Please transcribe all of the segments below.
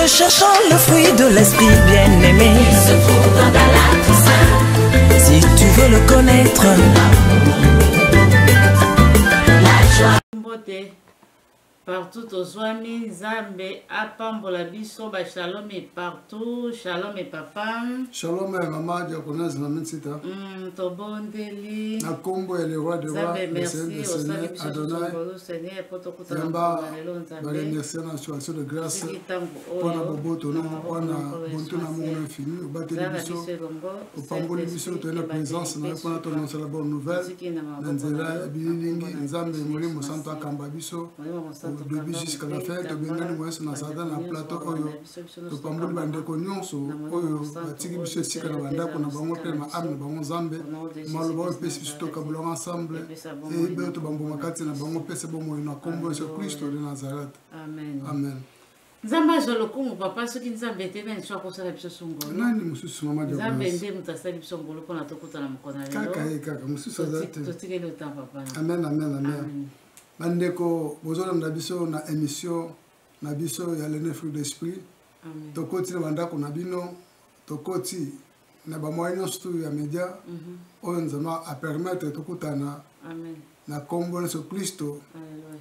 Recherchant le fruit de l'esprit bien-aimé. se trouve dans ta latte Si tu veux le connaître. mbote partout tozwami nzambe apambola biso bashalom e partout shalom e papa shalom ya mama diakonase na minsita mm, tobondeli na nkombo ya leroi de roi le seigneur de seigneur adonai yamba baremercie na situation de grâce mpo na boboto na mpo na bontu na mongo na infini obateli biso opamboli biso toye na présence na yo mpo na tononsela bonne nouvelle na nzela ya bililingi nzambe molimo mosantu akamba biso au début jusqu'à la fin tobengani moyeso na satan na plateau oyo topamboli bandeko nyonso oyo batiki biso esika na bandako na bango mpe na maame na bango nzambe maloba oyo epesi biso tokabolaka ensemble eyebe oyo tobamboma kati na bango pese bomoi na nkombo yesu kristo de nazareth amen nzambe azwa lokumu papa soki nzambe te nani so akosala biso songonani mosusu nzambe nde moto asali biso ngolo mpona tokutana mokolo na lelototikeli otan papa amen amen amen bandeko bozolanda biso na émission na biso ya lene fruit d'esprit tokoti na bandako na bino tokoti na bamoyen nyonso tu ya media mhm. oyo nzambe apermettre tokutana na nkombo na yesu klisto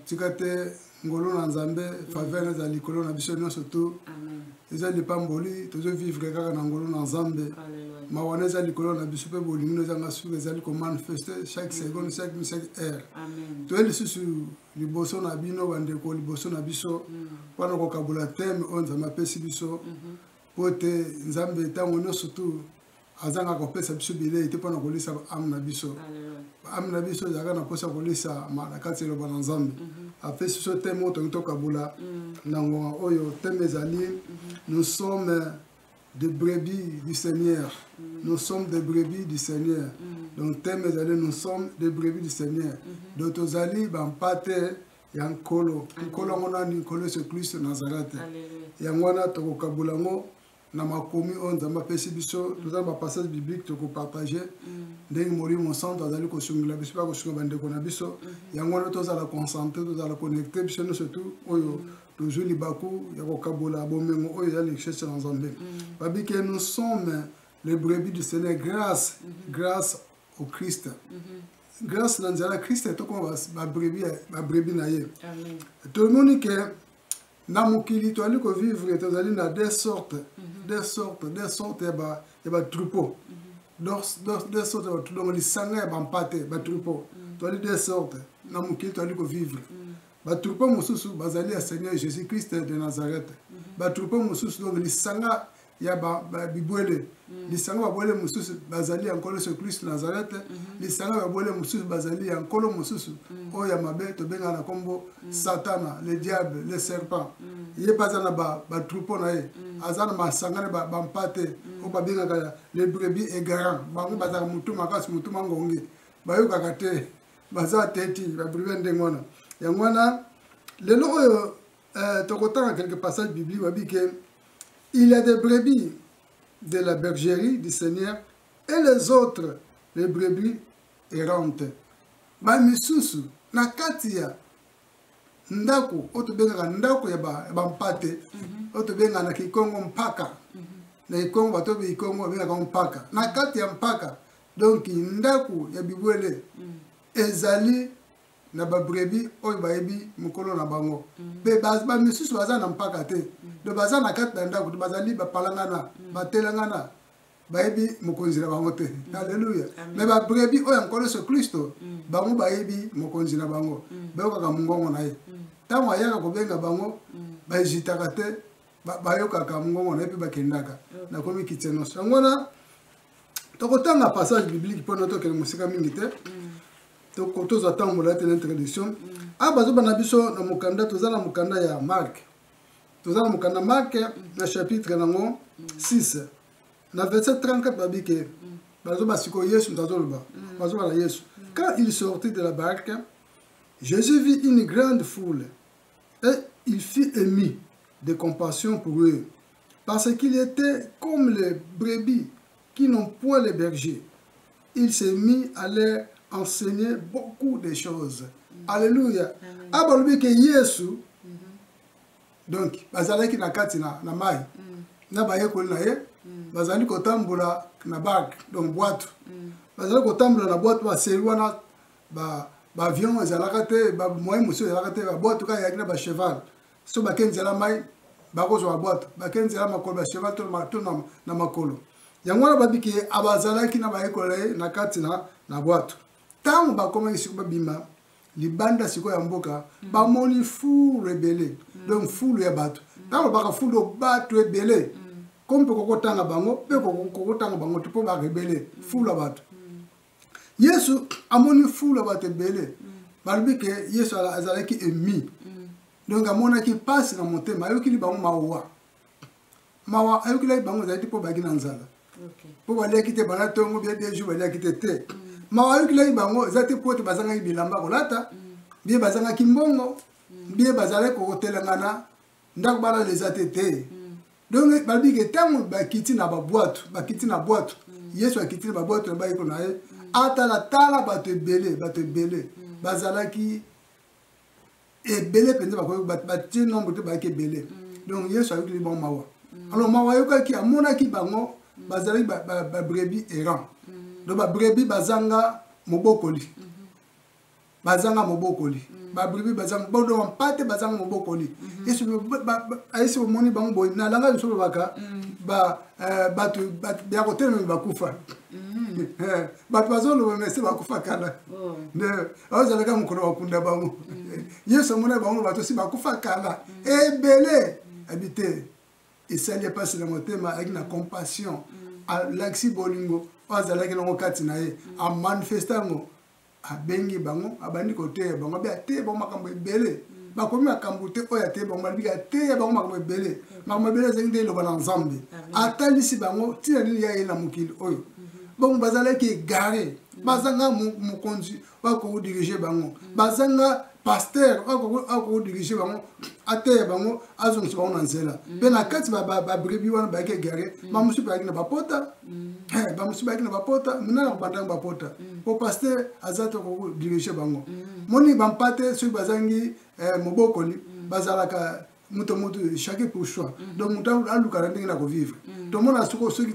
tika te ngolu na nzambe mhm. faveur eza likolo na biso nyonso tu eza lipamboli tozovivre kaka na ngolu na nzambe mawana eza likolo na biso mpe bolingi no ezanga suka ezali komanifeste chaque mhm. seconde chaque chaque heure toye lisusu liboso na bino bandeko liboso na biso mm. mpo na kokabola teme oyo nzambe apesi biso mm-hmm. mpo te nzambe ntango nyonso tu azanga kopesa biso bilei te mpo na kolisa baame na biso baame na biso ezalaka na mposa kolisa na kati ya eloba na nzambe mm-hmm. apesi biso teme oyo tokoki tokabola mm. na ngonga oyo teme ezali mm-hmm. nous sommes de brebis du Seigneur. Mm. Nous sommes des brebis du Seigneur. Mm. Donc, thème allez, nous sommes des brebis du Seigneur. Mm-hmm. Donc, aux alliés, ben, pâté, ya nkolo nkolo yango nani nkolo yesu kristo nazarete yango wana tokokabola yango na makomi oyo nzambe apesi biso mm. toza na bapassage biblique tokopartage mm. ndenge molimo mosantu azali kosungela biso mpe akosunga bandeko na biso mm-hmm. yango wana tozala concentre tozala connecte biso nyonso tu oyo tozwi libaku ya kokabola bomengo oyo ya lichese na nzambe mm. babi ke nous sommes le brebis du seigneur grâce mm -hmm. grâce au christ mm -hmm. grâce na nzela ya christ tokoma babrebis na ye tomoni ke na mokili toyali kovivre tozali na deux sorte mhm. deux sorte deux sorte ya batroupeau mhm. deux sorte ya batroupeau donc lisanga ya bampate batroupeau mhm. toyali deux sorte na mokili toyali kovivre batroupe mosusu bazali ya seigneur jésus christ de nazareth mhm. batroupe mosusu donc lisanga ya bibwele mhm. lisanga babwele mosusu bazali ya nkolo yesu kristo nazareth mhm. lisanga babwele mosusu bazali ya nkolo mosusu oyo ya mabe tobengaka na nkombo satana le diable le serpent ye mpe aza na batroupe na ye aza na masanga na bampate oyo babengaka le brebi egarant bango bazalaka motu makasi motu mangongi bayokaka te baza te ti ba prive ndenge wana yango wana lelo oyo euh, tokotanga quelque passage biblique babi ke il y a des brebis de la bergerie du seigneur et les autres les brebis errante bamisusu na kati ya ndako oyo tobengaka ndako ya bampate ba mhm. oyo tobengaka na kikongo mpaka mhm. na kikongo bato oyo kikongo babengaka mpaka na kati ya mpaka donk ndako ya bibwele mm. ezali na babrebi oyo bayebi mokolo na bango mpe mm. bamisusu baza na mpaka te mm. do baza na kati na ndako te bazali bapalangana mm. batelangana bayebi mokonzi na bango te aleluya me babrebi oyo ya nkolo yesu kristo bango bayebi mokonzi na bango bayokaka mongongo na ye ntango ayaka kobenga bango baezitaka te bayokaka mongongo na ye mpe bakendaka nakomi kitse nyonso yango wana tokotanga passage biblique mpo na tokende mosika mingi te mm. tozwa ntango molai te na introduction mm. awa ah, bazoba na biso na mokanda toza na mokanda ya marke toza na mokanda marke na chapitre nango 6 na verset 34 babi ke bazoba sikoyo yesu moto azoloba bazoba na yesu quand il sortit de la barque jésus vit une grande foule et il fit émis de compassion pour eux Parce qu'il était comme les brebis qui n'ont point les bergers. Il s'est mis à leur enseigner beaucoup de choses. Mm. Alléluia. Abalbi que Yesu mm-hmm. donc bazalaki na kati na, na mai mm. na bayekoli na ye mm. bazali kotambola na barke donc bwatu mm. bazali kotambola na bwatu baseli wana ba, ba avion ezalaka te bamoyen mosusu ezalaka te babwatu kaka eyaki na bacheval so bake nzela mai bakozwa babwato bake nzela makolo bacheval to na makolo yango wana babiki ye abazalaki na bayekola ye na kati na bwato ntango bakomaki siko babima libanda sikoyo ya mboka mm. bamoni fulu ebele mm. donc fulu ya bato mm. ntango baka fulu bato ebele ko mpe kokotanga bango mpe kokotanga bango te mpo barebele fulu ya bato yesu amoni fulu ya bato ebele mm. balobi ke yesu azalaki emi mm. donc amonaki mpasi na motema ayokili bango mawa mawa ayokelaki bango ezalaki mpo baki na nzala mpo baliaki te bana ntongo bie bie jour baliaki te te mm. mawa ayokelaki bango eza te mpo ete bazangaki bilamba kolata bie bazangaki mbongo bie bazalaki kotelengana ndako balala eza te te mm. donc balobi ke ntango bakiti na babwatu bakiti na bwatu mm. yesu akiti na babwatu na bayeko na ye mm. atalatala bato ebele bato ebele bazalaki ebele mpenza batie nombre te bayaki ebele donc yesu ayokeli bango mawa alors mawa ayokaki amonaki bango bazalaki babrebi errant donc babrebi bazanga mobokoli bazanga mobokoli mm. babribi bazanga bodo bampate bazanga mobokoli yesu ayesi bomoni bango boye na langa biso lobaka bato ya kotelemeli bakufa bato bazoloba mese bakufa kala oh. nde bazalaka mokolo bakunda bango mm. yesu amona bango bato osi bakufa kala mm. ebele abi te esali mpasi na motema ayaki na compassion mm. alakisi bolingo oyo azalaki nango kati na ye amanifeste yango abengi bango abandi koteya bango abi ateye bango makambo ebele mm. bakomi makambo te oyo ateye bango balobi ateya bango makambo ebele mm. makambo ebele ezangi nde eloba na nzambe atalisi bango ntina nini ya ye na mokili oyo mm-hmm. bongo bazalaki egare mm. bazanga mokonzi oyo akodirige bango bazanga pasteur oyo akoki dirige bango ateya bango azongisa bango na nzela mpe na kati babrebi wana bayaki egare bamosusu bayaki na bapota bamosusu bayaki na bapota minana kobandaki bapota mpo pasteur aza te okoki dirige bango moni bampate soki bazangi mobokoli bazalaka moto moto chacun pour soi mhm. donc moto aluka na ndenge na kovivre mhm. tomona soko soki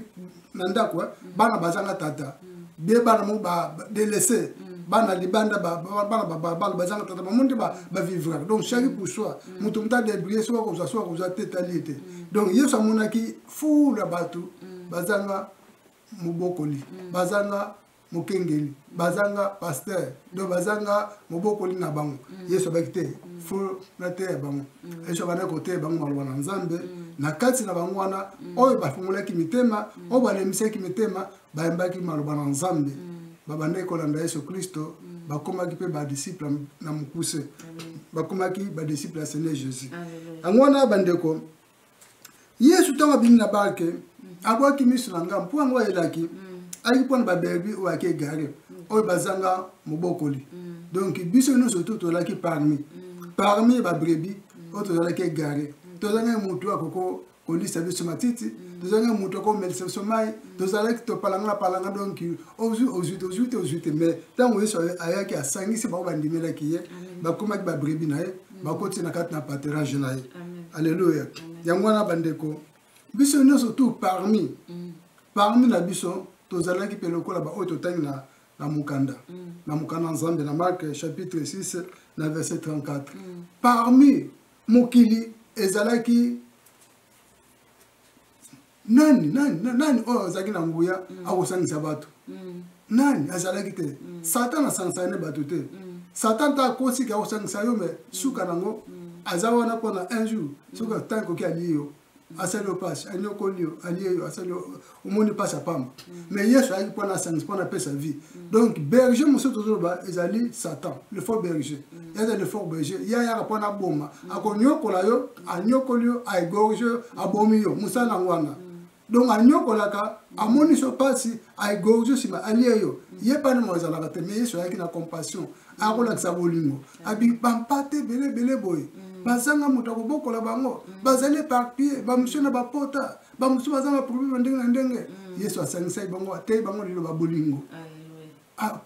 na ndako eh, mhm. bana bazanga tata bie bana mo badelaisse bana libanda bana babala bazanga tata bango nde bavivraka donc chacun pour soi moto moto adebrie soki akozwa soki akozwa te etali ete donc yesu amonaki fula bato bazanga mobokoli bazanga mokengeli bazanga pasteur donc bazanga mobokoli na bango mm. yesu abaki te mm. fo nateya bango mm. yesu abanda koteya bango maloba na nzambe na kati na bango wana oyo bafungolaki mitema oyo balemisaki mitema bayembaki maloba na nzambe babandaki kolanda yesu kristo bakomaki mpe badisiple na mokuse bakomaki badisiple ya seigneur jésus yango wana bandeko yesu ntango abimi na barke mm. abwaki miso na ngambo mpo yango ayelaki mm. ayaki mpo na baberbi oyo ayaki egare mm. oyo bazanga mobokoli donc biso nyonso to tozalaki parmi parmi babrebi oyo tozalaki egare tozangaki motu ya koko kolisa biso matiti tozangaki motu ya komelisa biso mai tozalaki topalangapalanga donc ozwi ozwi tozwi te ozwi te mais ntango yesu ayaki asangisi bango bandimelaki ye bakomaki babrebi na ye mm. bakoti na kati na paterage na ye alleluya yango wana bandeko biso nyonso tu parmi mm. parmi na biso tozalaki mpe lokola baoyo totangi na, na mokanda mm. na mokanda ya nzambe na marke chapitre 6 na verset 34 mm. parmi mokili ezalaki nani nani nani oyo azalaki na nguya mm. akosangisa bato mm. nani azalaki te mm. satan asangisaka nde bato te satan ta akosiki akosangisa yo me suka nango aza wana mpona un jour soki ntango ekoki alie yo asali yo mpasi anyokoli yo alie yo asali omoni mpasi apamba me yesu ayaki mpona asangisa mpona apesa vie donc berger mosusu tozoloba ezali satan le fort berger eza le fort berger ye ayaka mpona aboma akonyokola yo anyokoli yo aegorge yo abomi yo mosala yango wana donc anyokolaka amonisi yo mpasi aegorge nsima alie yo ye epai na azalaka te mais yesu ayaki na compassion akolakisa bolingo bampate ebele ebele boye mm. bazanga moto akobokola bango mm. bazali eparpille bamosusu na bapota bamosusu baza na problème ya ndenge na ndenge mm. yesu asangisaki bango ateyi bango liloba bolingo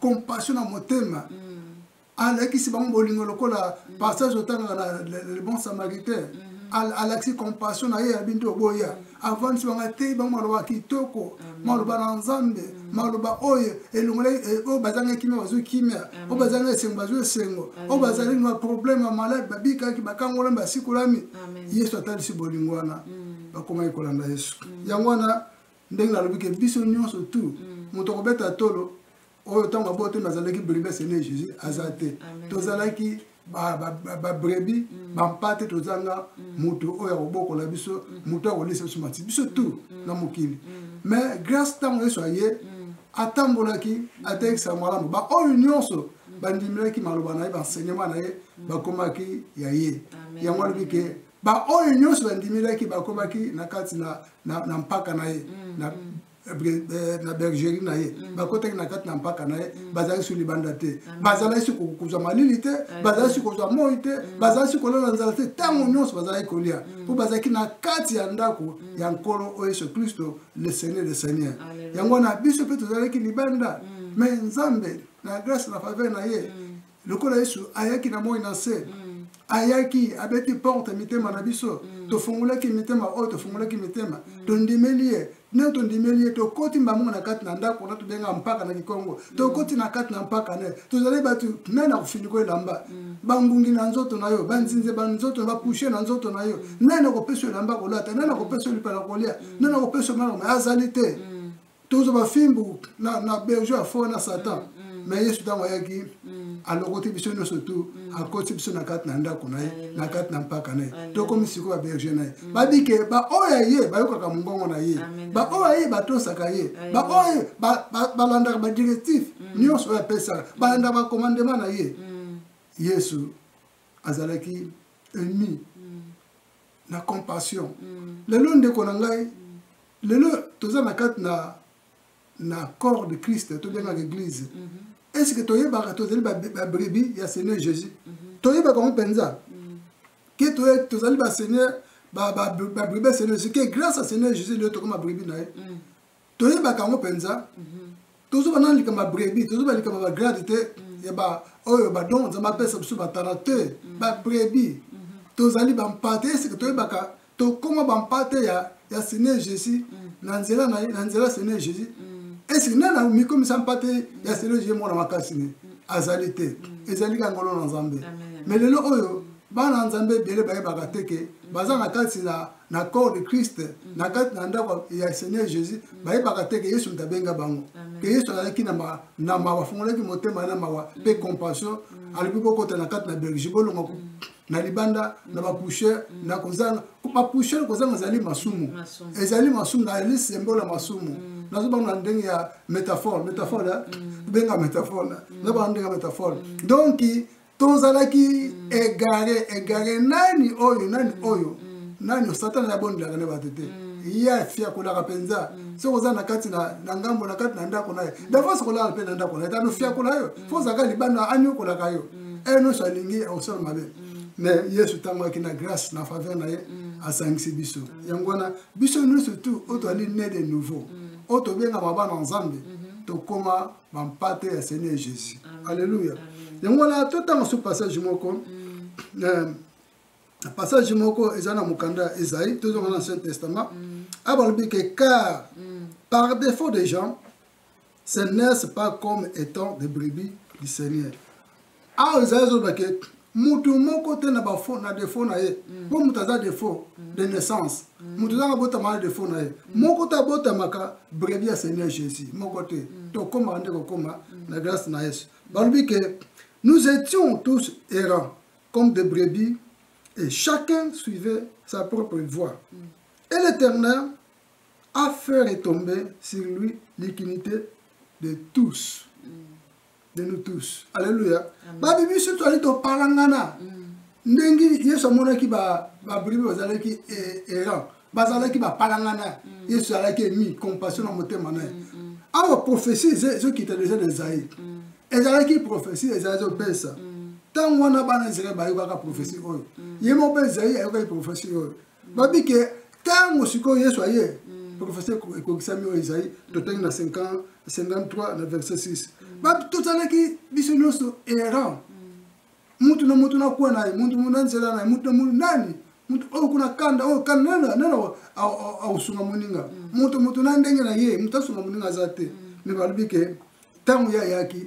compassion na motema alakisi bango bolingo lokola mm. passage otangaka na le bon samaritain mm-hmm. alakisi compassion na ye ya bintu oboya avandisi bango ateyi bango maloba kitoko maloba na nzambe mm. maloba oyo elongolai eh, oyo bazanga kimia bazwi kimia oyo bazanga esengo bazwi esengo oyo bazali na problème ya malade babikaki bakangolami basikolami yesu atalisi bolingo wana mm. bakomaki kolanda yesu mm. yango wana ndenge nalobi ke biso nyonso tu moto akobeta tolo oyo ntango aboto nazalaki brebi asene jésus aza te tozalaki babrebi mm. bampate tozanga mm. moto oyo akobokola biso mm. moto akolisa biso mati biso tu na mokili mais grâce ntango yesu aye atambolaki atekisa malamu baoyo nyonso bandimelaki maloba na ye baenseignement na ye bakomaki ya ye yango alobi ke baoyo nyonso bandimelaki bakomaki na kati na mpaka na ye Eh, na bergerie na ye mm. bakotaki na kati na mpaka na ye mm. bazalaki su libanda te mm. bazalaki su kozwa malili te bazalaki su kozwa moi te bazalaki su kolala nzala te ntango nyonso bazalaki kolia mpo bazalaki na kati ya ndako ya nkolo oyo yesu kristo le seigneur le seigneur yango wana biso mpe tozalaki libanda me nzambe na grâce na faveur na ye lokola yesu ayaki na moi na nse mm. ayaki abeti porte mitema na biso mm. tofungulaki mitema oyo tofungulaki mitema mm. tondimeli ye nde tondimeli ye tokoti mbango na kati na ndako na tobenga mpaka na kikongo tokoti na kati na mpaka ne tozali bato me na kofiniko elamba bangungi na nzoto na yo banzinze ba nzoto na bapushe na nzoto na yo nani nakopesa yo elamba kolata nani nakopesa yo lipa na kolia nani nakopesa yo maloma azali te tozwa bafimbu na, na berge ya fo na satan mm, mm. me yesu ntango ayaki mm. alokoti biso nyonso tu mm. akoti biso na kati na ndako na ye na kati na mpaka na ye tokomi sikoyo baberge na ye mm. babike baoyo ya ye bayokaka mongongo na ye baoyo ya ye batosaka ye baoyo balandaka badirectif mm. nyonso oyo apesaka mm. balandaka bakomandema na ye mm. yesu azalaki ennemi mm. na compassion mm. lelo ndeko na ngai mm. lelo toza na kati na na corps de christ tobengaka église mm -hmm. est ce que toyebaka tozali babrebi ya seigneur jésus mm -hmm. toyebaka yango mpenza mm. ke tozali baseigneur babrebi ya seigneur jésus ke grâce ya seigneur jésus lelo tokoma brebi na ye mm. toyebaka yango mpenza tozoba na likambo ya brebi tozoba likambo ya bagrade te mm. ya baoyo badongo nzambe apesa biso batala te mm. babrebi mm-hmm. tozali bampate eseke toyebaka tokoma bampate ya, ya seigneur jésus mm. na nzela na ye na nzela seigneur jésus eseke nani amikomisa mpate ya seigneur jésus mwana makasi ne azali te ezali ka ngolo na nzambe me lelo oyo bana ya nzambe ebele bayebaka te ke baza na kati na na corps de christ mm. na kati na ndako ya seigneur jésus mm. bayebaka te ke yesu moto abenga bango ke yesu azalaki na mawa afungolaki motema na mawa mm. mpe compassion alobi bokota na kati na belgi bolonga na libanda na bapouchere na kozanga bapouchere kozanga ezali masumu ezali masumu na ezali sembola masumu nazobanga na ndenge ya métaphore métaphore benga métaphore nazobanga ndenge ya métaphore donki tozalaki mm. egare egare nani oyo nani mm. oyo mm. nani oyo satana ya bondelaka na bato te ye afiakolaka mpenza soki oza na kati na ngambo na kati na ndako na ye davance kolala mpe na ndako na ye tano fiakola yo fo ozalaka libanda anyokolaka yo eye nyonso alingi osala mabe me yesu ntango ayaki na grâce na faveur na ye asangisi biso yango wana biso nyonso tu oyo toali ne de nouveau oyo tobengama bana nzambe tokóma bampate ya seigneur jésus alleluya yango wana totanga so passage moko mm. eh, passage moko eza na mokanda ya esaïe tozonga na ancien testament mm. abalobi ke car mm. par défaut des gens se naissent pas comme étant des brebis du seigneur awa ezali ezoloba ke motu moko te na bafo na defo na ye mm. mpo moto aza defo mm. de naissance mm. moto ezaka abotama na defo na ye moko te abotamaka brevi ya seigneur jésus moko te tokomaka nde kokoma na grâce na yesu balobi ke nous étions tous errants comme des brebis et chacun suivait sa propre voie et l'éternel a fait retomber sur lui l'iniquité de tous de nous tous alleluya babi biso toali topalangana mm. ndenge yesu amonaki babribe bazalaki e, errant bazalaki bapalangana mm. yesu alaki emi compassion na motema na ye mm, awa prophesie ezokita deja na ezali ezalaki prophesie ezali ezopesa ntango wana bana israel bayokaka prophesie oyo ye moko mpe ezali ayokaki prophesie oyo babi ke ntango sikoyo yesu aye mm. profesi ekokisami oyo ezali totangi na 53 na verset 6 mm. totalaki biso nyonso errant mutu na mutu nakuwa na ye mutu na nzela na ye mutu na mutu nani mutu oyo kuna kanda oyo kanda nani nani akosunga moninga mutu mutu na ndenge na ye mutu asunga moninga aza te me balobi ke ntango ye ayaki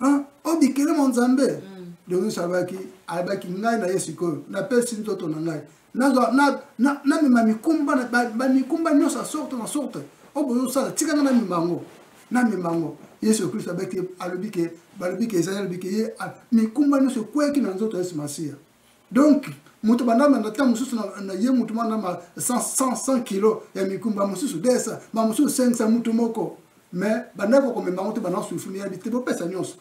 Hein? o bikele mo nzambe mm. denis alobaki alobaki ngai na ye sikoyo napesi nzoto na ngai namema mikumba bamikumba nyonso ya sorte na sorte oyo bozosala tika nga namema yango namema yango yesu kristo alobi ke balobi ke ezali alobi ke ye mikumba nyonso ekweyaki na nzoto ya yesu masiya donc moto bandama na ntango mosusu na ye moto bandama 100 kilo ya mikumba mosusu 200 bamosusu 500 moto moko mais bandaki komema yango te banda sulfuni ya bite bopesa nyonso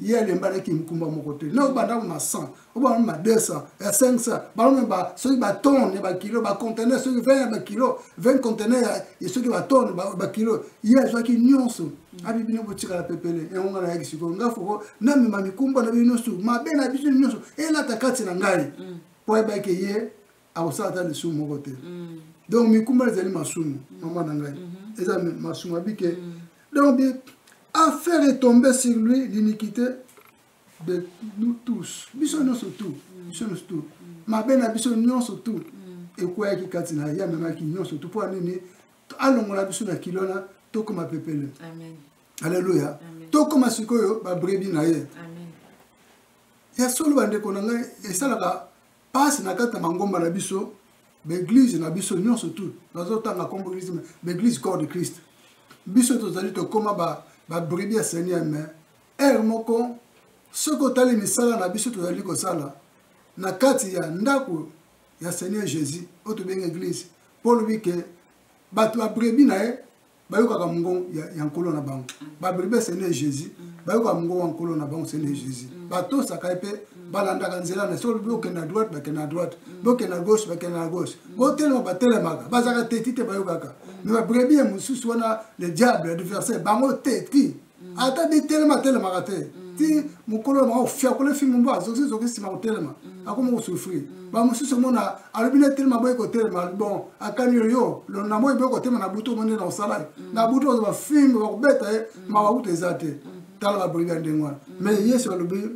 ye alembanaki mokumba moko te na obanda ma 100 obanda ma 200 ya 500 balome soki batone ya bakilo bacontener soki 20 ya bakilo 20 contener ya soki batone bakilo ye azwaki nyonso abi bino botikala pepele yango ngai nayaki sikoyo ngai foko namema mikumba na bino nyonso mabe na biso nyonso elata kati na ngai mm. mpo ayebaki ye akosala ata lisumu moko te mm. donc mikumba ezali masumu mm. mama na ngai mm-hmm. eza masumu abike donc affaire etombe sur lui l'iniquité de nous tous biso nyonso tout biso nyonso tout mabe na biso nyonso tout ekweyaki kati na ye amemaki nyonso tout mpo ya nini alongola biso na kilo wana tokoma pepele aleluya tokoma sikoyo babrebi na ye ya solo bandeko na ngai esalaka mpasi na kati ya mangomba na biso baeglize na biso nyonso tout nazotanga nkombo eglize baeglize corps de christ biso tozali tokoma babrebi ya seigneur me ere moko soki otali misala na biso tozali kosala na kati ya ndako ya seigneur jésus oyo tobengi eglize mpo olobi ke bato ya brebi na ye bayokaka mongongo ya nkolo na bango mm. babrebi esene jésus mm. bayokaka mongongo ya nkolo na bango esene jésus mm. batosaka ye mpe balandaka nzela na solo bokende na droite bakende na droite bokende na gauche bakende na gauche botelema batelemaka bazalaka teti te bayokaka me babrebi ya mosusu wana le diable adversaire bango teti mm. ata bitelema atelemaka te mm. ti mokolo maka ofiakole fimbu mbo azokisi zoki nsima kotelema mm. akoma kosufri bamosusu omona alobi na etelema boye kotelema bon akani yo yo lona moye boye kotelema na butu omoni na osala ye na butu ozo bafimbu bakobeta ye mawa kutu eza te tala babrigade ndenge wana mais yesu alobi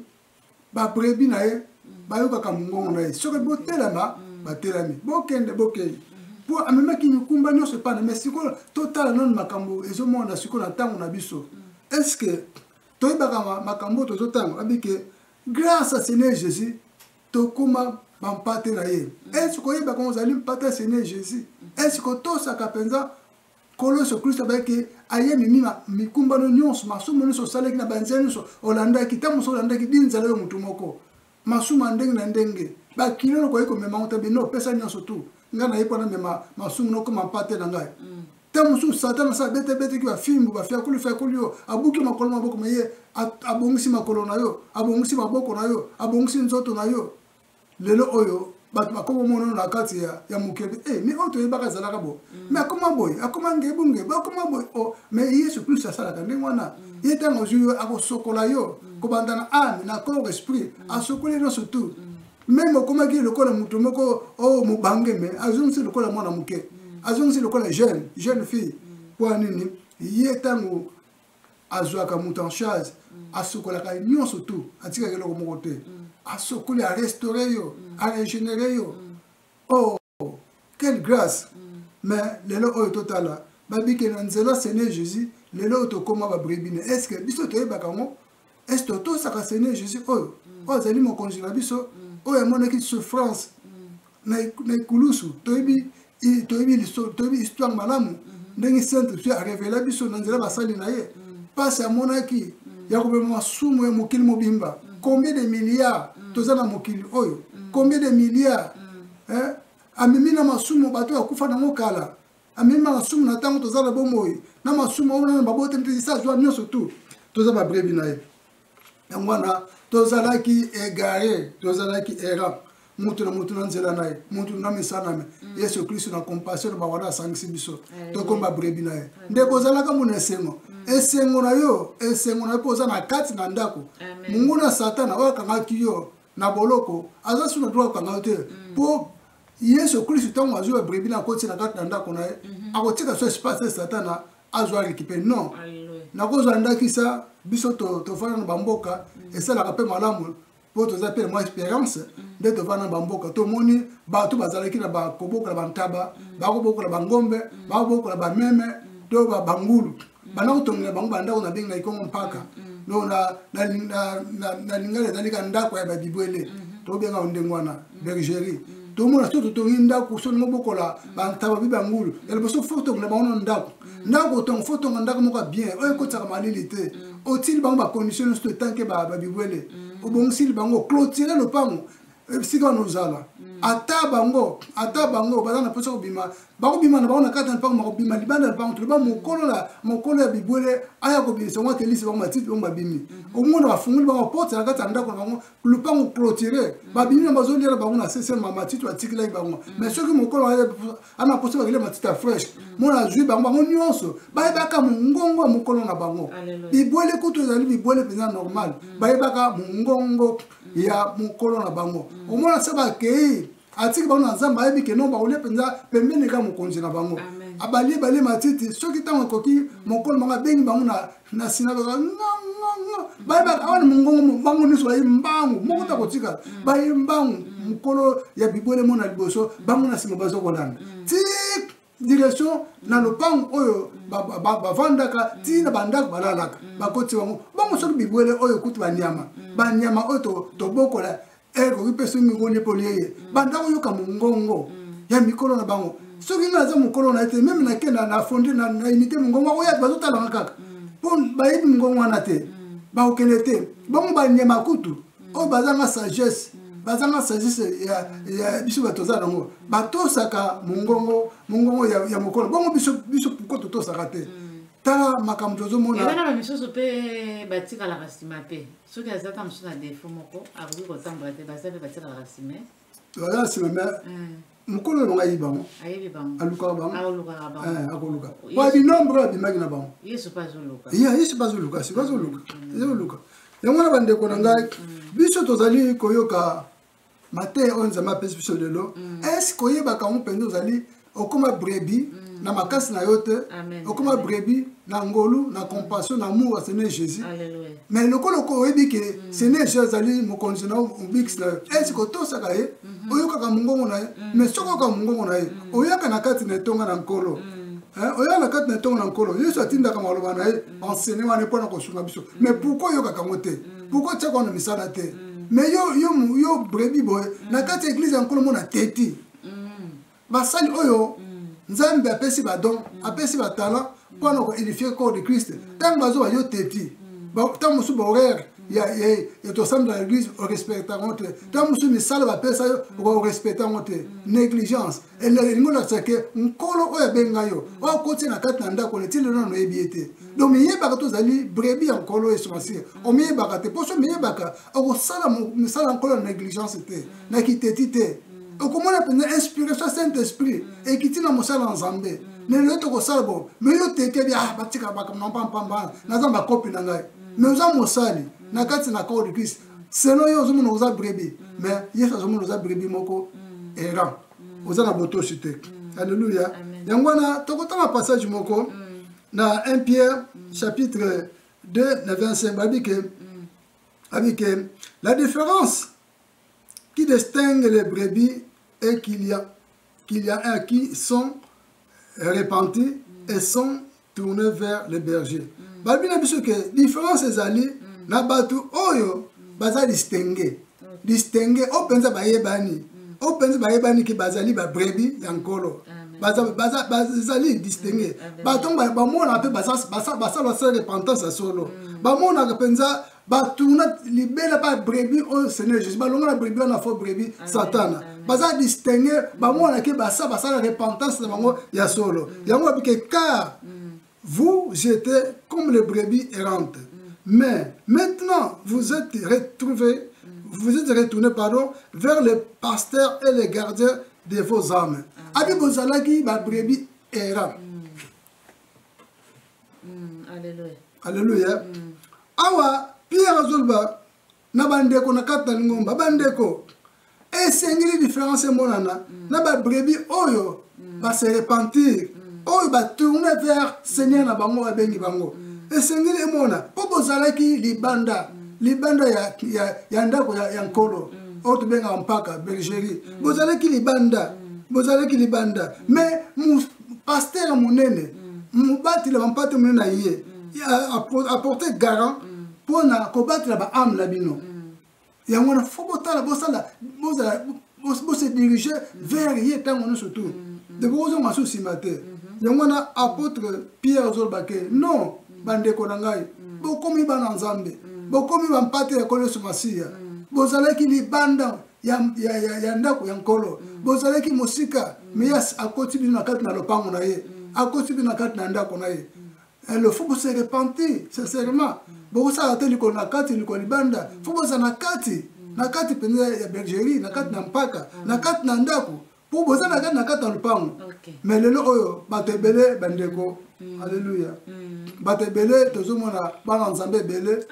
babrebi na ye bayokaka mongongo na ye soki botelema batelami bokende bokende mpo amemaki mikumba nyonso epai na me sikoyo totala nano makambo ezomonana sikoyo na ntango na biso estce toyebaka makambo oyo tozotanga abike grâce à seigneur jésus tokóma bampate na ye estce oyebaka ozali mpate ya seigneur jésus estce otosaka mpenza nkolo yesu kristo abayaki aye mimima mikumbano nyonso masumu nyonso osalaki na banzela nyonso olandaki ntango mosusu olandaki dinzala yo motu moko masumu ya ndenge na ndenge bakilo lokoki komema ngo tabi no pesa nyonso tu ngai nayebi mpona mema masumu nokoma mpate na ngai mm. ntango mosusu satana sa abetebeteki bafimbu bafiakoli fiakoli yo abuki makolo maboko maye abongisi makolo na yo abongisi maboko na yo abongisi nzoto na yo lelo oyo bato bakoma omonono na kati ya, ya mokili e eh, me oyo toyebaka ezalaka boye mm. me akoma boye akoma ngebu ngebu akoma boye o oh, me yesu kristo asalaka ndenge wana mm. ye ntango ozwi yo akosokola yo mm. kobanda na ame na corps esprit asokoli nyonso tout meme okomaki lokola moto moko o oh, mobange me azongisi lokola mwana moke azongisi lokola jeune jeune fille mpo ya nini ye ntango azwaka moto en charge mm. asukolaka ye nyonso tu atikaka eloko moko te mm. asukoli arestaure yo mm. arégénere yo oh quelle grâce mais lelo oyo totala babike na nzela seigneur jésus lelo oyo tokóma babrebine est ce que biso toyebaka yango est ce que otosaka seigneur jésus oyo mm. oyo azali mokonzi na biso mm. oyo amonaki souffrance mm. na ekulusu toyebi toyebi histoire malamu mm-hmm. ndenge saint esprit arevela biso na nzela basali na ye mpasi amonaki ya kobema masumu ya mokili mobimba combien de milliards toza na mokili oyo combien de milliards eh, amemi na masumu bato bakufa nango kala amemi masumu na ntango toza na bomoi na masumu oyo na baboteli te esi azwa nyonso tu toza babrebi na ye yango wana tozalaki egare tozalaki era moto na moto na nzela na ye moto na misala na mm. yesu kristo na compassion na bawana asangisi biso tokoma brebi na ye ndeko ozalaka mona esengo mm. esengo na yo esengo na yo mpo oza na kati na ndako monguna satana oyo akangaki yo na boloko aza suna droit akanga yo te mpo mm. yesu kristu ntango azwi babrebi na akotisa na kati na ndako na ye mhm. akotika so espace ya satana azwa récupere non nakozwa ndakisa biso tofanda na bamboka mhm. esalaka mpe malamu mpo toza mpe mwa espérance mhm. nde tovanda na bamboka tomoni bato bazalaki na bakobokola bantaba bakobokola bangombe bakobokola bameme to bangulu ba banda kotongela bango bandako na bengi na ikongo mpaka no na lingala ezali ka ndako ya babibwele mm-hmm. tobenga ndenge wana mm-hmm. bergerie mm-hmm. tomona so totongi ndako so ndenge obokola bantaba bi bangulu ya liboso fo tongela bango na ndako ndako otonga fo tonga ndako moko ya bien oyo ekotisaka malili te otili bango bacondition nyonso totanke babibwele obongisili bango clotire lopango esika wana ozala ata bango ata bango baza na mposa kobima bakobima na bango na kati na mpango makobima libanda ya mpango toloba mokolo na mokolo ya bibwele aya kobimisa yango atelisi bango matiti bango babimi omona bafungoli bango porte na kati ya ndako na bango lupango clotire babimi na bazoliela bango na sese ma matiti batikelaki bango mais soki mokolo ana mposa bakele matiti ya fresh mona azwi bango bango nyonso bayebaka mongongo ya mokolo na bango bibwele kutu ezali bibwele mpenza normal bayebaka mongongo ya mokolo na bango mm. omona se bakei atiki bango na nzambe ayebi ke no bakolia mpenza pembeni ka mokonzi na bango abalie balie matiti soki ntango ekoki mm. mokolo bango abengi bango na sinagoga bayebaka awa na mongongo bango nyonso baye mbangu moko mm. ta kotikala baye mbangu mokolo ya bibwele mona liboso bango na nsima bazokolanda tik direction na lopango oyo bavandaka ti na bandako balalaka mm. bakoti bango bango soki bibwele oyo kutu banyama mm. banyama oyo tobokola ekoki eh, mpe soki mingoli epoli eye mm. bandako yoka mongongo ya mikolo na bango soki ngai aza mokolo na ye te meme nakenda na fondi na imite mongongo akoya bazotalanga kaka mpo bayebi mongongo wana te bakokende te bango banyama kutu mm. oyo bazanga sagesse mm. bazanga sagesse ya, ya biso bato toza nango batosaka mongongo mongongo ya, ya mokolo bongo biso biso pourkoi totosaka te mm. tala makambo tozomonabana bamisusu mpe batikalaka nsima mpe soki aza ta mosusu na defo moko akoki kotambola te baza mpe batikalaka nsima baza na nsima mais mokolo oyo ngai bango alukaka bango akoluka po binombre oyo abimaki na bango yesu mpe azoluka siko azoluka ezoluka yango wana bandeko na ngai biso tozali koyoka mateya oyo nzambe apesi biso lelo eske oyebaka yango mpenza ozali okoma brebi mm. na makasi na yo te okoma brebi na ngolu na compassion na amour ya seigneur jésus mais lokola oyebi ke mm. seigneur jésus azali mokonzi na obikisi na yo esi mm. kotosaka ye mm-hmm. oyokaka mongongo na ye mm. mais soki oyoka mongongo na ye oyaka na kati na etonga na nkolo oya na kati na ntongo na nkolo yesu atindaka maloba na ye enseigne wana mpo na kosunga biso mais pourkui oyokaka yango te pourkui otiaka wana misala te mais yo brebi boye na kati ya eglize ya nkolo mona teti basali oyo nzambe apesi badon apesi batalent mpo na koedifie corps de christ ntango bazoba yo teti ntango mosusu bahoraire ya tosambela na église orespecta yango te ntango mosusu misala bapesa yo orespecta yango te négligence elingi olakisa ke nkolo oyo abenga yo oyo akotia na kati na ndako na ntina nano oyebi ye te donc miyebaka tozali brebi ya nkolo yesu masiya omiyebaka te mpo so miyebaka okosala misala ya nkolo na négligence te na kiteti te okomona mpenza inspiration saint esprit ekiti na mosala na nzambe me lelo tokosala bo me yo tekebi ah batika bakambo mpampamba naza bakopi na ngai me oza mosali na kati na corps de christ selon yo ozomona oza brebi me yesu azomona oza brebi moko errant oza na botosi te alleluya yango wana tokotanga passage moko na 1 pierre chapitre 2 na 25 babi ke abi ke la différence qui distingue les brebis et qu'il y a, qu'il y a un qui sont repentis et sont tournés vers les bergers. Mm. Balobi na biso ke différence ezali mm. na bato oyo mm. baza distingue. Distingue oyo mpenza bayebani. Mm. Oyo mpenza bayebani ke bazali babrebi ya nkolo. bazali distingue bato yango bamonaka mpe basalaka sala repentance ya solo mm. bamonaka mpenza batuna libela ba brebis oyo seigneur jésus balongola brebis wana fo brebis satana baza distingue bamonaki basa basala repentance na bango ya solo mm. yango babike car mm. vous jetez comme les brebis errantes mm. mais maintenant vous êtes retrouvé vous êtes retourné pardon vers les pasteurs et les gardiens de vos âmes abi bozalaki ba brebis errant mm, alleluia alleluia mm. awa pierre azoloba na bandeko na kati na lingomba bandeko esengeli différence emonana mm. na babrebi oyo mm. base repentir mm. oyo batourne vers seigneur na bango babengi bango mm. esengeli emona mpo bozalaki libanda mm. libanda ya, ya, ya ndako ya, ya nkolo mm. oyo tobengaka mpaka belgerie mm. bozalaki libanda mm. bozalaki libanda mm. mais pasteur monene mm. mobateli ya bampate monene na ye mm. apporte garant mm. mpo na kobatela baame na bino yango wana fo botala bosala bose dirige vers ye ntango nyonso tu de bokozonga so nsima te mm-hmm. yango wana apôtre pierre azolobake non bandeko na ngai bokomi bana nzambe bokomi bampate ya kolo yesu masiya bozalaki libanda ya, ya, ya, ya ndako ya nkolo mm. bozalaki mosika mm. me yas akoti bino na kati na lopango na ye mm. akoti bino na kati na ndako na ye mm. le faut bose repentir sincèrement mm. bokosala te likolo na kati likolo libanda mm. faut boza na kati mm. na kati mpenza ya bergerie na kati na mm. mpaka mm. na kati na ndako mpo bozalaka na kati ya lopango me lelo oyo bato ebele bandeko mm. alleluya mm. bato ebele tozomona bana nzambe ebele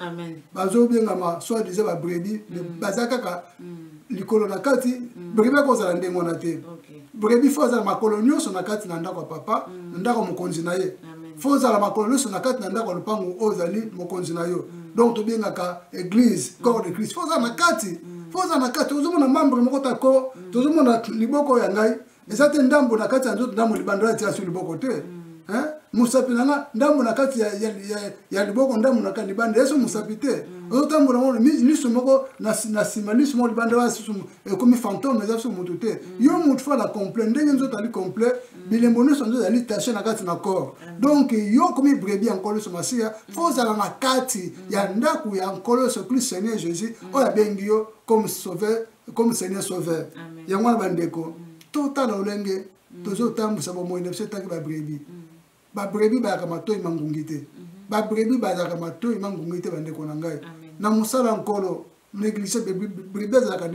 bazobengama soit disant babrebi mm. baza kaka likolo na kati brebi akozala ndenge wana te brebi fo azala makolo nyonso na kati na ndako ya papa na ndako mokonzi na ye fo ozala makolo nyonso na kati na ndako ya lopango oyo ozali mokonzi na yo donc tobengaka église corps de christ fo ozala na kati fo ozala na kati ozomona membre moko tako tozomona liboko ya ngai eza te ndambo na kati ya nzoto ndambo libanda ya tiasu liboko te mm. mosapi na nga ndambo na kati ya liboko ndambo na libanda yesu mosapi te mm. ozotambola ngo liso moko na nsima liso moko libanda wana susu ekomi fantome eza susu motu te mm. yo motu fala complet ndenge nzoto ali complet bilembo nyonso nzoto ezali tache na kati na corps donc yo okomi brebi ya nkolo yesu masiya fo ozala na kati ya ndako ya nkolo yesu christ seigneur jésus oyo abengi yo comme sauveur comme seigneur sauveur yango wana bandeko mm. totala olenge mm. tozotambwisa bomoi na biso etaki babrebi mm. babrebi bayaka matoi mangungi te mm-hmm. babrebi bazalaka matoi mangungi te bandeko na ngai na mosala nkolo négligé brebi azalaka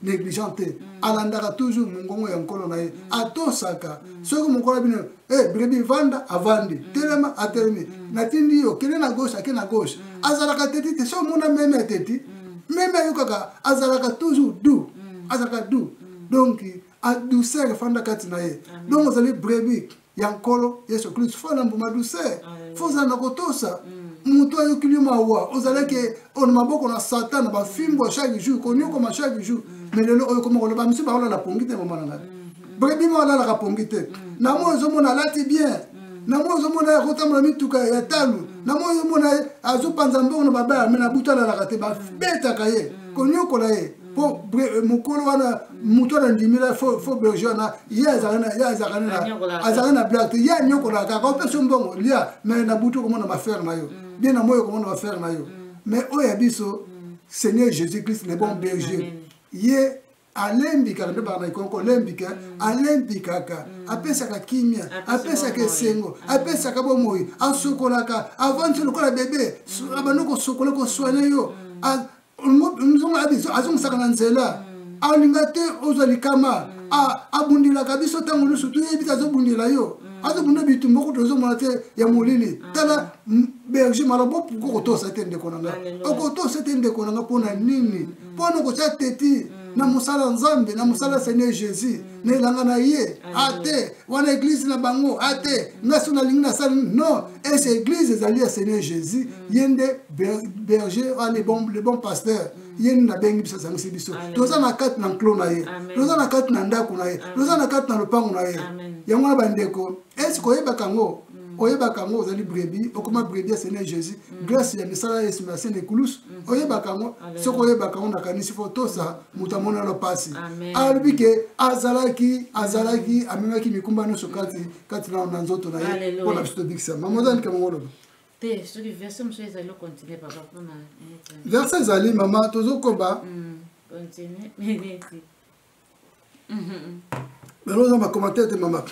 négligent te alandaka toujours mongongo ya nkolo na ye atosaka soki mokolo bino Hey, eh, brebi vanda avandi mm. telema atelemi mm. natindi yo kende na gauche ake na gauche mm. azalaka teti te so omona meme ya teti mm. meme ayokaka azalaka toujours doux mm. azalaka doux mm. donc adouceur efanda kati na ye donc ozali brebi ya nkolo yesu kristu fo na mbuma douceur fo ozala na kotosa mm. moto ayokili mawa ozalaki mm. na maboko na satan na bafimbo chaque jour konyokoma chaque jour mm. mais lelo oyo koma koloba misu baolala pongi te mama na ngai boyebi mwa alalaka pongi te na moi ozomona alati bien na moi ozomona akotambola mituka ya talo na moi ozomona azopanza mbongo na babaya me na butu alalaka te babetaka ye konyokola ye mpo eh, mokolo wana moto wana ndimila fo berger wana ye azalaka na blage te ye anyokolaka kaka opesi yo mbongo lia mai na butu okomona bafere na yo mm. bien na moi okomona bafere na yo mai mm. oyo ya biso mm. seigneur jésus christ le bon berger ye alembikaka nde bana ekoki kolembika mm. alembikaka mm. apesaka kimia apesaka esengo mm. apesaka bomoi asokolaka avandi lokola bebe abandi kosokola koswana yo azongisaka na nzela alinga te ozwa likama abundilaka biso ntango nyonso toyebi te azobundela yo azobunda bitumba kutu ozomona te ya molili tala berger mala bopuko kotosa te ndeko na nga okotosa te ndeko na nga mpo na nini mpo na kotya teti na mosala nzambe na mosala seigneur jésus na elanga na ye ate wana eglize na bango ate nga so nalingi nasali non ese eglize ezali ya seigneur jésus ye nde berger le bon, le bon pasteur ye nini nabengi biso asangisi biso toza na kati na nklo na ye toza na kati na ndako na ye toza na kati na lopango na ye yango wana bandeko ese koyebaka yango Mm. oyebaka yango ozali brebi okoma brebi ya seigneur jésus mm. grâce ya misala ya yesu merci na ekulusu mm. oyebaka yango soki oyebaka yango nakanisi fo tosa moto amonelo mpasi alobi ke azalaki azalaki amemaki mikumba nyonso kati kati na na nzoto na ye mpo na biso tobikisa mama oza ndika mongo oloba te soki verset mosusu ezali okontinue papa mpona verset ezali mama tozokoba continue bango oza bacommentaire te mama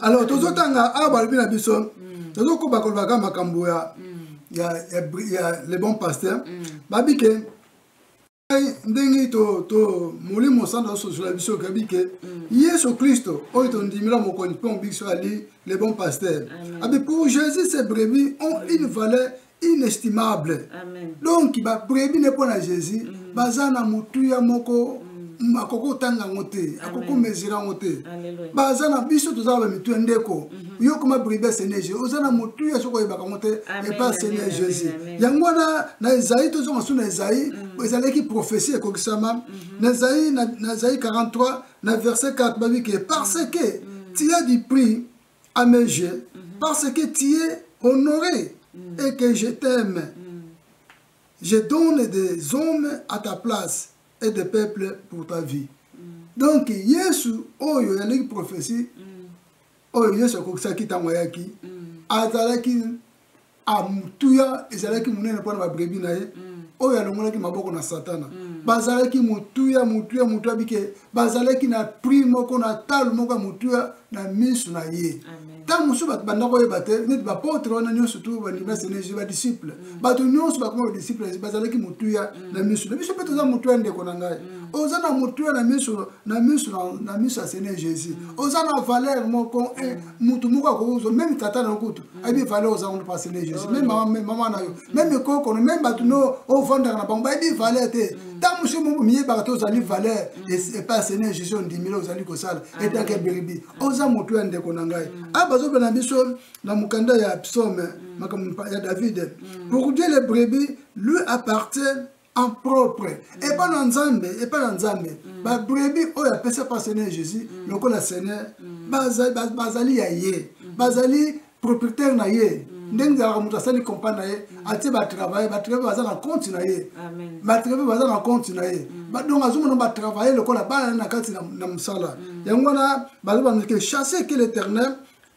alors tozotanga awa balobi na biso mm. tozokoba kolobaka makambo ya mm. le bon pasteur mm. babi ke ndenge molimo santu asosola biso okebi ke yesu kristo oyo tondimela mokonzi mpe mobikisi ali le bon pasteur abi pour jésus ses brebis ont une valeur inestimable Amen. donc babrebi ne mpo na jésus mm -hmm. baza na motuya moko mm. akoki kotanga yango te akoki komesire yango te baza na biso toza na bamituya ndeko mm -hmm. yo koma brebi ya seigneur jésus oza na motuya soki oyebaka yango te epa seigneur jésus yango wana na ezai tozonga su na ezai mm. ezalaki prophesie ekokisama mm -hmm. na ezai na, na ezai 43 na verset 4 babi ke parce que mm. tia du prix à mes yeux mm -hmm. parce que tu es honoré mm -hmm. et que je t'aime. Mm -hmm. Je donne des hommes à ta place et des peuples pour ta vie. Mm -hmm. Donc Yesu oyo oh, yaleki prophétie mm -hmm. oyo oh, Yesu akokisaki ntango ayaki mm -hmm. azalaki a motuya ezalaki monene mpo na babrebi na ye mm. oyo alongolaki maboko na satana mm. bazalaki motuya motuya motuya bike bazalaki na prix moko na tale moko ya motuya na miso na ye ntango mosusu bato banda koyeba te neti bapotre wana nyonso tu bandimasi na yesu badisiple mm. bato nyonso bakoma badisiple yesu bazalaki motuya na miso na biso mpe toza motuya ndeko na ngai oza na motuya na miso na miso na miso ya seigneur jésus oza na valeur moko eh, motu moko akokozwa meme tata na kutu ayebi valeur oza kuna pasele jésus meme mama meme mama na yo meme ekokono meme bato no ofandaka na bango bayebi valeur te ntango mosusu momo miyebaka te ozali valeur epai ya seigneur jésus ondimile ozali kosala etake biribi oza motu ya ndeko na ngai a bazobe na biso na mokanda ya psaume makambo ya david pour dieu le brebis lui appartient en propre mm. epa na nzambe epa na nzambe mm. babrebi oyo apesa mpa seigneur jésus mm. lokola seigneur mm. bazali, baz, bazali ya ye mm. bazali propriétaire na ye mm. ndenge ezalaka moto asali compa na ye mm. atie batravaille batravaille baza na compte na ye batravaille baza na compte na ye mm. donc azomona batravaille lokola bana na kati na, na mosala mm. yango wana bazobandike chasse ke l'éternel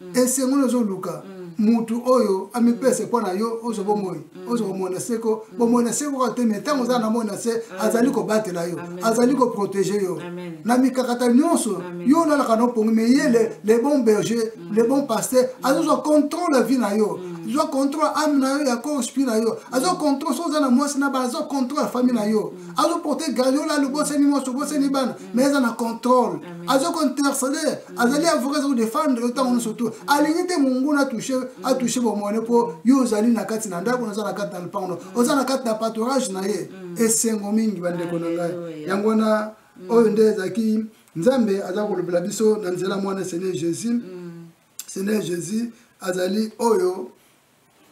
mm. esengo nini ozoluka mm. mutu oyo amipese mpo na yo ozo bomoi mm. ozo bomoi na seko bomoi na seko kaka te me ntango ozala na moi na se azali kobatela yo azali koprotege yo na mikakata nyonso yo olalaka na opongi me ye le bon berger le bon pasteur azozwa contrôle ya vie na yo azwa contrôle ame na yo ya corps esprit na yo azwa contrôle so oza na mwasi na bana azwa contrôle ya famille na yo azoporte garde yo la lobosani mwasi obosani bana mais eza na contrôle aza kointercede mm. azali avocat aza kodefendre yo ntango nyonso to alingi te monguna atouche atouche bomone mpo yo ozali na kati na ndako oza na kati na lopango no mm. oza na kati na patorage na ye mm. esengo mingi bandeko na ngai yango wana oyo nde ezalaki nzambe aza kolobela biso na nzela mwana seigneur jésus seigneur jésus azali oyo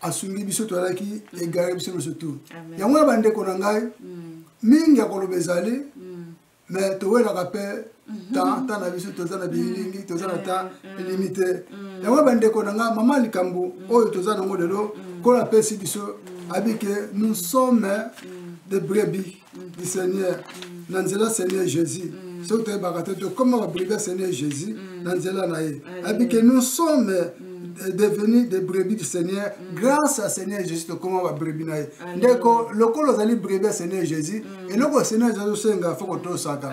asungi biso toyalaki mm. egare biso nyonso tu yango ya bandeko na ngai mm. mingi ya koloba ezali mm. me towelaka mpe mm-hmm. temps temps na biso toza na bililingi toza na temps limite yango ya bandeko na ngai mama likambo oyo toza nango lelo kola apesi biso abike nous sommes de brebis du seigneur na nzela seigneur jésus soki toyebaka te tokoma babribia seigneur jésus na nzela na ye ayebi ke nous sommes euh, devenu des brebis du seigneur mm. grâce à seigneur jésus tokoma babrebi na ye ndeko lokola ozali brebi ya seigneur jésus mm. eloko ya seigneur jésus osenga fo kotosaka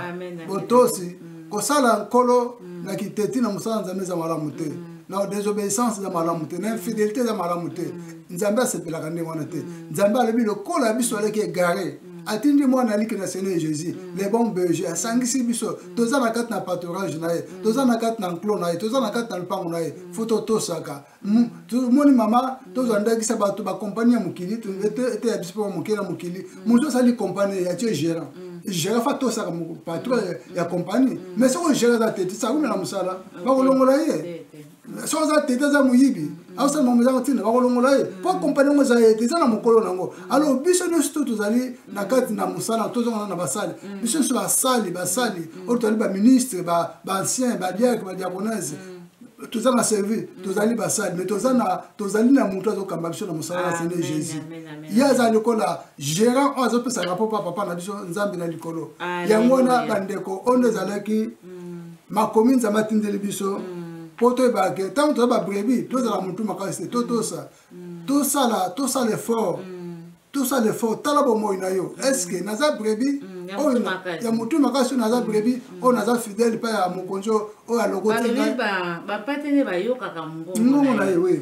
botosi mm. kosala nkolo mm. na kiteti na mosala nzambe eza malamu te mm. na désobéissance eza malamu te na infidélité eza malamu te mm. nzambe asepelaka ndenge wana te nzambe alobi lokola biso aleki egare atindi mwana aliki na seigneur jésus le bon berger asangisi biso toza na kati na paturage na ye toza na kati na nclo na ye toza na kati na lopango na ye fo totosaka tomoni mama tozwa ndakisa bato bakompani ya mokili eteya biso mpo moke na mokili moto asali kompani ya tie gérant gérant fa tosaka patron ya kompani mais soki ogérant aza te tisakumela mosala bakolongola ye so aza tete aza moyibi asala makambo ezanga ntina bakolongola ye mpo kompani yango eza ye te eza na mokolo na yango alo biso nyonso to tozali na kati na mosala tozongana na basali biso nyonso basali basali oyo tozali baministre baancien badiake badiakonese toza na service tozali basali mais toza na tozali na moto azokamba biso na mosala na sene jésus ye aza lokola gérant oyo azopesaka mpo pa papa na biso nzambe na likolo yango wana bandeko oyo nde ezalaki mm. makomi nzambe atindeli biso mpo mm. toyebaka ke ntango toza babrebi tozala motu makasi te totosa mm. tosala tosala effort mm. tosala effort tala bomoi na yo estce naza brebi oyo ya motu makasi oyo naza brebi oyo naza fidèle mpe ya mokonzi oyo alokotibapate nde bayokaka ngongo na ye we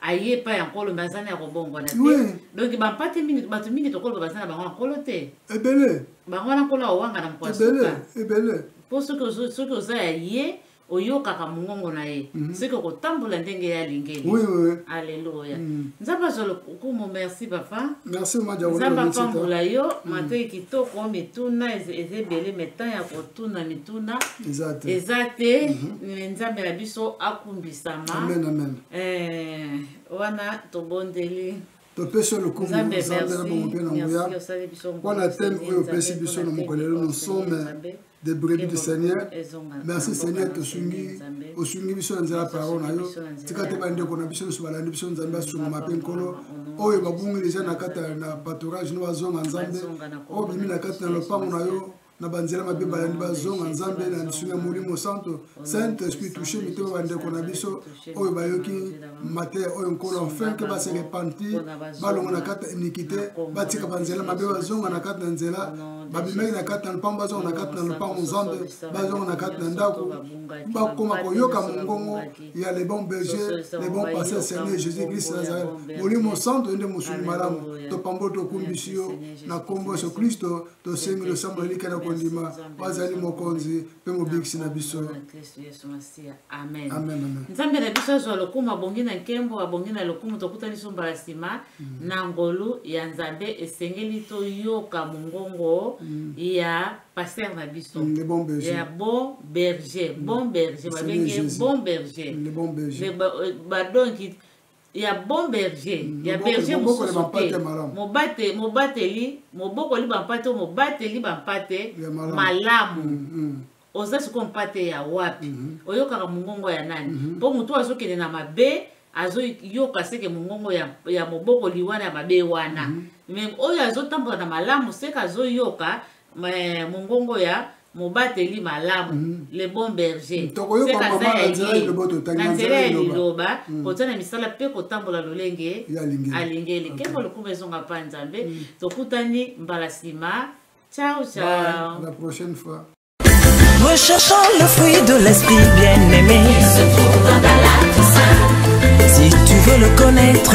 aye epai ya nkolo me azana ya kobongwana te Oui. donk bampate mingi bato mingi tokoloba baza na bango ya nkolo te ebele bango wana nkolo awanga na mokolo ya ebele suka ebele mpo soki ozo- soki oza ya ye oyokaka mongongo na ye Mhm. soki okotambola ndenge ye alingeli oui oui oui. aleluya Mm. nzambe azwa lokumu merci papa merci mama nzambe diakola apambola yo matoi kitoko mituna eza eza ebele me temps ya kotuna mituna eza te eza te me nzambe na biso akumbisama amen amen Eh, wana tobondeli topesi yo lokumu nzambe na bongo mpe na nguya mpo na teme oyo opesi biso na mokolo lelo na nsome de brebis du seigneur merci seigneur tosungi osungi biso na nzela parole na yo tika te bandeko na biso nyonso balandi biso nzambe asungama mpe nkolo oyo babungi deja na kati na patorage no bazonga nzambe oyo bimi na kati na lopango na yo na banzela mabe balandi bazonga nzambe na lisungi ya molimo santo saint esprit touche mitema bandeko na biso oyo bayoki mateya oyo nkolo enfin ke base repanti balongo na kati ya inikite batika banzela mabe bazonga na kati na nzela babimaki na kati na lopango bazonga na kati na lopango nzambe bazonga na kati na ndako bakoma koyoka mongongo ya le bon berger le bon pasteur seigneur jésus christ nazareth molimo santo ende mosuni malamu topamboli tokumbisi yo na nkombo yesu kristo tosengi losambo ya lika na kondima bazali mokonzi mpe mobikisi na biso nzambe na biso azwa lokumu abongi na nkembo abongi na lokumu tokutani so mbala nsima mm. na ngolu ya nzambe esengeli toyoka mongongo mm. ya paster na biso mm, ya bon berger bon berger babenge bon berger badonki ya bon berger ya berger mosusu te mobate mobateli mobokoli bampate oyo mobateli bampate malamu mm, mm. oza sikoyo mpate ya wapi mm -hmm. oyokaka mongongo ya nani mpo mm -hmm. motu oyo azokende na mabe azoyoka seke mongongo ya, ya mobokoli wana ya mabe wana mm -hmm. me oyo azotambola na malamu seke azoyoka Mais mongongo ya mobateli malamu mm -hmm. le bon berger sekaza ya ye na nzela ya liloba mm. kotia na misala mpe kotambola lolenge alingeli kembo lokumu ezonga mpa nzambe mm. tokutani mbala nsima ciao ciao la prochaine fois Recherchant le fruit de l'esprit bien-aimé Il se trouve dans la Toussaint Si tu veux le connaître